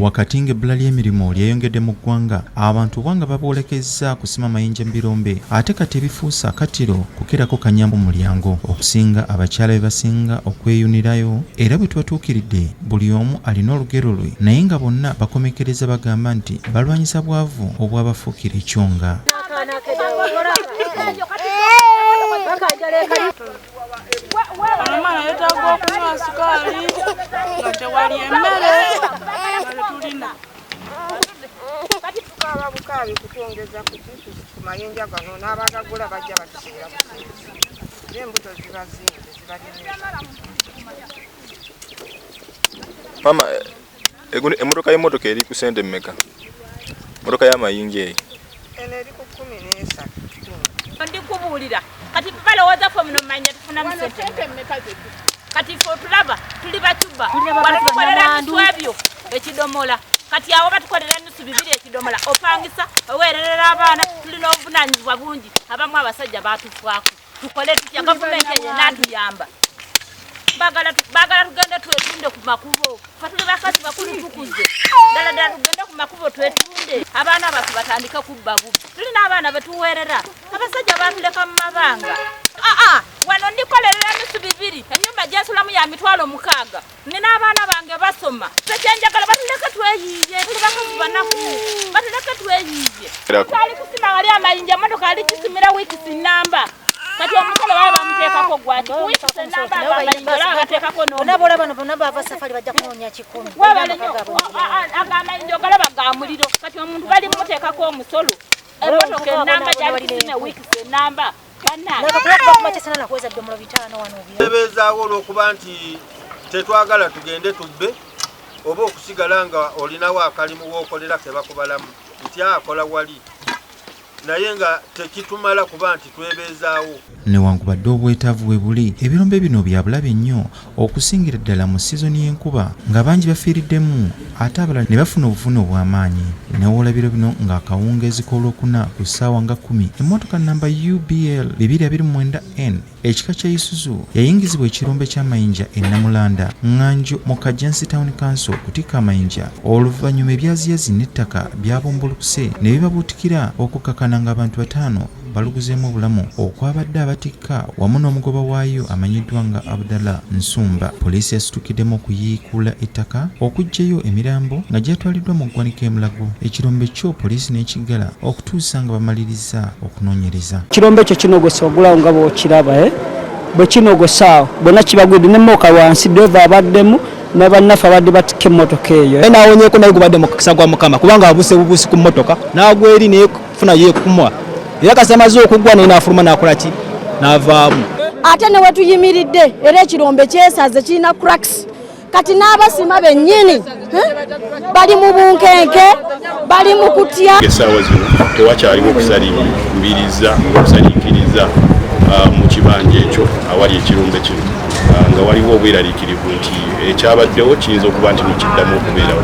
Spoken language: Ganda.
wakati ng'ebbula ly'emirimu lyeyongedde mu ggwanga abantu oba nga babwolekezza kusima mayinja mu birombe ate kati ebifuusa akatiro kukerako kanyambu mulyango okusinga abakyala be basinga okweyunirayo era bwe tubatuukiridde buli omu alina olugero lwe naye nga bonna bakomekereza bagamba nti balwanyisa bwavu obwabafuukira ekyonga Omwana yetaaga okunywa sukaali nga tewali emmere tulina kati tukaaba bukaabi kutwongeza ku mayinja gano n'abagagula bajja batusiira busiizi naye embuto ziba zingi zibalina Eguno emotoka y'emotoka eri ku sente mmeka? Motoka y'amayinja eyo. Eno eri ku kumi n'esa. Ndi kubuulira kati balowooza ffe muno manya tufuna mu sente mmeka zetu. Kati ffe otulaba tuli bacuba wano tukolera bitu ebyo ekidomola kati awo batukolera nusu bibiri ekidomola opangisa oweererera abaana tulina obuvunanyizibwa bungi abamu abasajja batufwako. tukole tutya gavumenti eyo enatuyamba bagala tugende twetunde ku makubo fatuli bakazi bakulu tukuze ddala ddala tugende ku makubo twetunde abaana batu batandike kubba bubbi tulina abaana betuweerera abasajja batuleka mu mabanga aa wano ndikolerera emisu bibiri enyumba gyensulamu ya mitwalo mukaaga nina abaana bange basoma tekyenjagala batuleke tweyiiye tuli bakozi banaku batuleke tweyiiye ali kusima wali amayinja emotoka ali kisimira wiikisi namba kati omusolo baba bamuteekako gwaki wiikisi namba amayinja olaba bateekako nonaba olaba no bona bava safari bajja kunoonya kikumi webale nyo ago amayinja ogalaba ga muliro kati omuntu bali mumuteekako omusolo emotoka enamba gyali kisime wiikisi enamba tebeezaawo olw'okuba nti tetwagala tugende tubbe oba okusigala nga olinawo akalimu wookolera ke bakubalamu nti akola wali naye nga tekitumala kuba nti twebeezaawo newankubadde obwetaavu we buli ebirombe bino byabulabe nnyo okusingira ddala mu sizoni y'enkuba nga bangi bafiiriddemu ate abalala ne bafuna obuvune obw'amaanyi newoolabira bino ng'akawungeezi k'olwokuna ku ssaawa nga kumi emmotoka namba ubl 229 n ekika kya isuzu yayingizibwa ekirombe ky'amayinja e namulanda nganjo mu kajansi town council okutikka amayinja oluvannyuma ebyaziyazi n'ettaka byabumbulukuse ne bibabuutikira okukkakana ng'abantu bataano baluguzeemu obulamu okwabadde abatikka wamu n'omugoba waayo amanyiddwa nga abdalla nsumba poliisi yasitukiddemu okuyiikuula ettaka okuggyayo emirambo nga gyatwaliddwa mu ggwanika emulago ekirombe kyo poliisi n'ekiggala okutuusa nga bamaliriza okunoonyereza ekirombe ekyo kinogose ogulawo nga bwokiraba eh? bwe kinogosaawo bonna kibagwidde ne mooka wansi deva abaddemu nabannaffe abadde batikka emmotoka eyo naye nawonyeko naye gubadde mukisa gwa mukama kubanga abuse bubusi ku mmotoka nagweri funa yekumwa era kasi amaze okuggwa naye n'afuluma n'akola ki n'avaamu ate ne wetuyimiridde era ekirombe kyesaze kirina cracks kati n'abasima bennyini eh, bali mu bunkenke bali mu kutya esaawa zino tewakyaliwo okusalimbiriza ngaokusaliikiriza ah, mu kibanja ekyo awali ekirombe kino ah, nga waliwo obweraliikirivu nti ekyabaddewo kiyinza okuba nti nokiddamu okubeerawo